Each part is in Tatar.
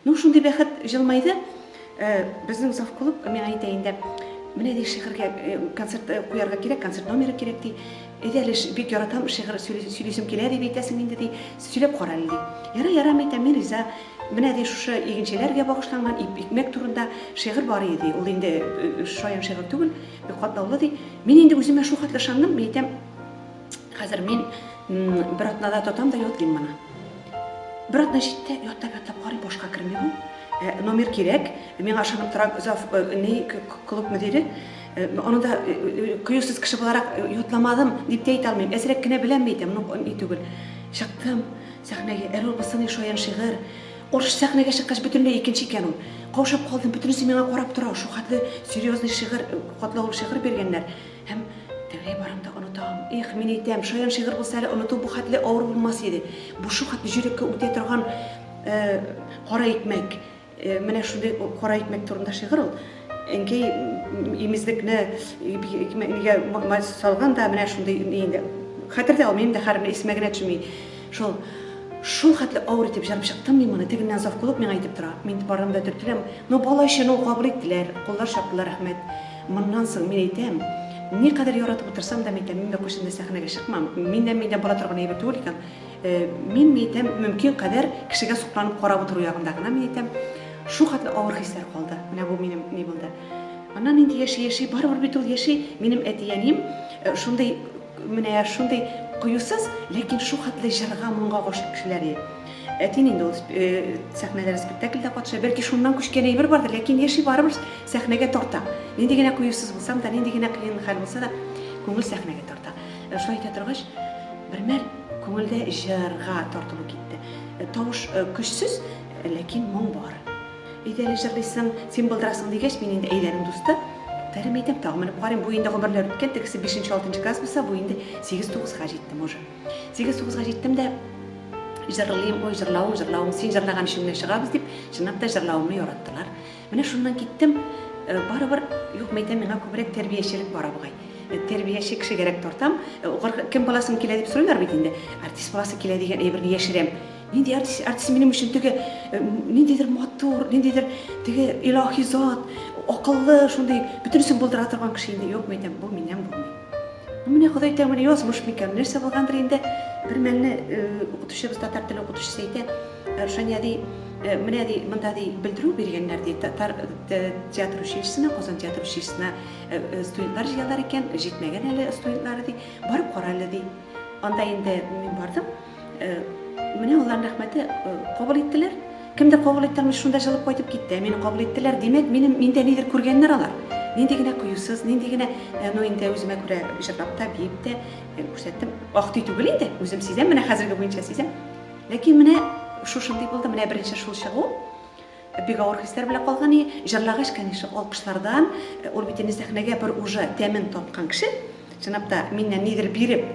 Ну, шундый бәхет җылмайды. Э, безнең завклуб миңа әйтә инде, менә ди шигырьгә э, концерт э, куярга кирәк, концерт номеры кирәк ди. Әйдә әле бик яратам шигырь сөйлисем килә дип әйтәсең инде ди. Сөйләп кара әле ди. Яра, ярам әйтә, мин риза. Менә ди шушы игенчеләргә багышланган икмәк турында шигырь бар иде. Ул инде шаян шигырь түгел, бик катлаулы ди. Мин инде үземә шул хәтле ышандым, мин әйтәм, Хәзер мин бер атнада татам да йотлыйм моны. Бер атна җитте, яттап яттап карый башка керми бу. Э, номер кирәк. Мин ашанып торам зав э, ни клуб мөдире. Э, аны да кыюсыз кеше буларак йотламадым дип тә әйтә алмыйм. Әзрәк кенә беләм бит, ну ни түгел. Чыктым сәхнәгә. Эрол Басыны шаян шигырь. Орыш сәхнәгә чыккач бөтенләй икенче икән ул. Каушап калдым, бөтенесе миңа карап тора. Шул хәтле серьезный шигырь, катлаулы шигырь биргәннәр. Һәм тәүләй барам да онытам. Эх, мин әйтәм, шаян шигырь булса әле оныту бу хәтле авыр булмас иде. Бу шул хәтле җөрәккә үтә торган кара икмәк. Менә шундый кара икмәк турында шигырь ул. Әнкәй имезлекне икмәкнигә салган да менә шундый инде. Хәтердә ул минем дә хәрме исемә генә төшми. Шул шул хәтле авыр итеп җырып чыктым мин моны. Тегеннән завкулык миңа әйтеп тора. Мин барам да төртеләм. Но бала өчен ул кабул иттеләр, куллар чаптылар, рәхмәт. Моннан соң, мин әйтәм, никадәр яратып утырсам да, мин әйтәм, мин Бәкүш инде сәхнәгә чыкмам, миннән миндә бара торган әйбер түгел икән. Мин, мин әйтәм, мөмкин кадәр кешегә сокланып карап утыру ягында гына, мин әйтәм, шул хәтле авыр хисләр калды. Менә бу минем ни булды. Аннан инде яши-яши, барыбер бит ул яши. Минем әти-әнием шундый Менә шундый кыюсыз, ләкин шул хәтле җырга, моңга гашыйк кешеләр ие. Әтине инде ул сәхнәләр, спектакльдә катыша. Бәлки шуннан күчкән әйбер бардыр, ләкин яши барыбер сәхнәгә тарта. Нинди генә кыюсыз булсам да, нинди генә кыен хәл булса да, күңел сәхнәгә тарта. Шулай итә торгач, бермәл күңелдә җырга тартылу китте. Тавыш көчсез, ләкин моң бар. Әйдә әле җырлыйсың, син былдырасың, дигәч, мин инде әйләнү дусты, тәре мәйтәм, тагын менеп карыйм, бу инде гомерләр үткән, тегесе бишенче, алтынчы класс булса, бу инде сигез-тугызга җиттем уже. Сигез-тугызга җиттем дә, җырлыйм, ой, җырлавың, җырлавың, син җырлаган өчен генә чыгабыз, дип, чынлап та җырлавымны яраттылар. Менә шуннан киттем, э, барыбер, юк, мәйтәм, миңа күбрәк тәрбиячелек бара бугай. Э, тәрбияче кешегәрәк тартам, э, кем баласын килә дип сорыйлар бит инде, артист баласы килә дигән әйберне яшерәм. Нинди артист, артист минем өчен теге ниндидер матур, ниндидер теге илаһи зат, акыллы, шундый бөтенесен булдыра торган кеше инде юкмы икән, бу миннән булмый. Ну менә Ходай тәңре язмыш микән, нәрсә булгандыр инде. Бер мәлне укытучыбыз татар теле укытучысы әйтә, Рушания ди, менә ди, монда ди белдерү биргәннәр ди, татар театр училищесына, Казан театр училищесына студентлар җыялар икән, җитмәгән әле студентлары ди, барып кара әле ди. Анда инде мин бардым. Менә алланың рәхмәте кабул иттеләр. Кемдер кабул иттеләр, шунда җылып кайтып китте. Ә мине кабул иттеләр, димәк, минем миндә нидер күргәннәр алар. Нинди генә кыюсыз, нинди генә, ну инде үземә күрә җырлап та, биеп тә күрсәттем. Актый түгел инде, үзем сизәм, менә хәзерге буенча сизәм. Ләкин менә шушындый булды, менә беренче шул чыгу. Бик авыр хисләр белән калган и, җырлагач, конечно, алкышлардан, ул бит инде сәхнәгә бер уже тәмен таткан кеше, чынлап та, миннән нидер биреп,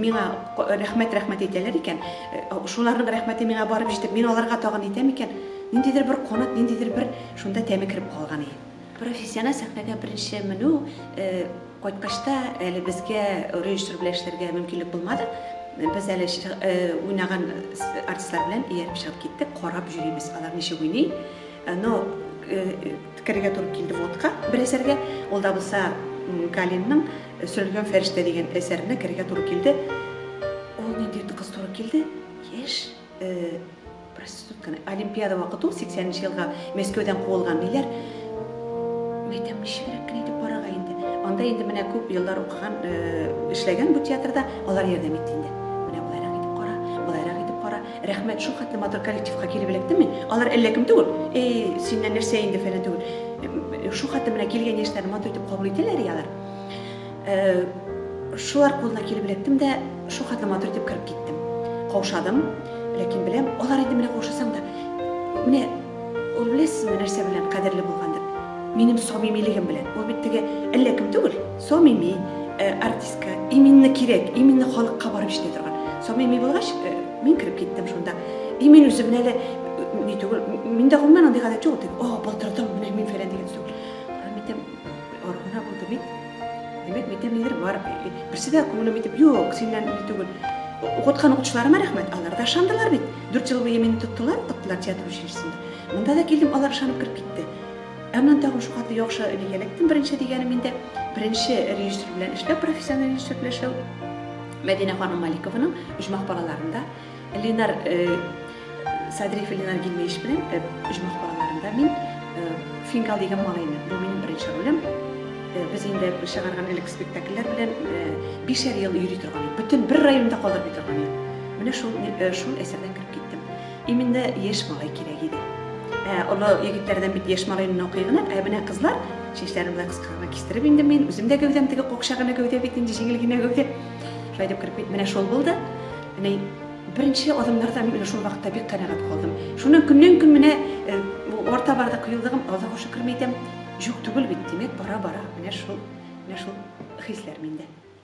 миңа рәхмәт, рәхмәт әйтәләр икән, шуларның рәхмәте миңа барып җитеп, мин аларга тагын әйтәм икән, ниндидер бер канат, ниндидер бер шунда тәме кереп калган и. Профессиональ сәхнәгә беренче менү кайткач та әле безгә режиссер белән эшләргә мөмкинлек булмады. Без әле уйнаган артистлар белән ияреп чыгып киттек, карап йөрибез, алар ничек уйный. Но керергә туры килде водка бер әсәргә, ул да булса Галинның Сөрелгән фәрештә дигән әсәренә керергә туры килде. Ул нинди кыз туры килде? Яшь, проститутканы олимпиада вакыт ул сиксәненче елга мәскәүдән куылган диләр мәйтәм ничегрәк кенә итеп барырга инде анда инде менә күп еллар укыган эшләгән бу театрда алар ярдәм итте инде менә болайрак итеп кара болайрак итеп кара рәхмәт шул хәтле матур коллективка килеп эләктеме алар әллә кем түгел эй синнән нәрсә инде фәлән түгел шул хәтле менә килгән яшьләрне матур итеп кабул итәләр алар Шулар кулына килеп эләктем дә, шул хәтле матур итеп кереп киттем. Каушадым, ләкин беләм, алар инде менә каушасаң да, менә ул беләсезме нәрсә белән кадерле булгандыр? Минем самимилегем белән. Ул бит теге әллә кем түгел, самими артистка, именно кирәк, именно халыкка барып җитә торган. Самими булгач, мин кереп киттем шунда. И мин үзем менә әле ни түгел, миндә гомумән андый гадәт юк, дип, о, былтырдан менә мин фәлән дигән сүз. Мин әйтәм, Аргына булды бит. Димәк, бит нидер бар. Берсе дә күңелем итеп, юк, синнән ни түгел. Укыткан укытучыларыма рәхмәт, алар да ышандылар бит. Дүрт ел буе мине тоттылар, тоттылар театр училищесында. Монда да килдем, алар ышанып кереп китте. Ә моннан тагын шул каты яхшы бигәләктем беренче дигәнем инде. Беренче режиссер белән эшләп, профессиональ режиссер белән эшләп. Мәдинә ханым Маликованың Оҗмах балаларында Ленар Садриев Ленар Гилмеевич белән оҗмах балаларында мин Фингал дигән малайны, бу минем беренче ролем. Без инде чыгарган элек спектакльләр белән бишәр ел йөри торган идек. Бөтен бер районда калдырмый торган идек. Менә шул шул әсәрдән кереп киттем. Именно яшь малай кирәк иде. Ә олы егетләрдән бит яшь малайны укый гына, ә менә кызлар чәчләрен болай кыска гына кистереп инде мин үзем дә гәүдәм теге какча гына гәүдә бит инде җиңел генә гәүдә. Шулай дип кереп кит. Менә шул булды. Менә беренче адымнарда мин менә шул вакытта бик канәгать калдым. Шуннан көннән-көн менә э, орта барда кыюлыгым, Аллаһу шөкер әйтәм, юк түгел бит, димәк, бара-бара менә шул, менә шул хисләр миндә.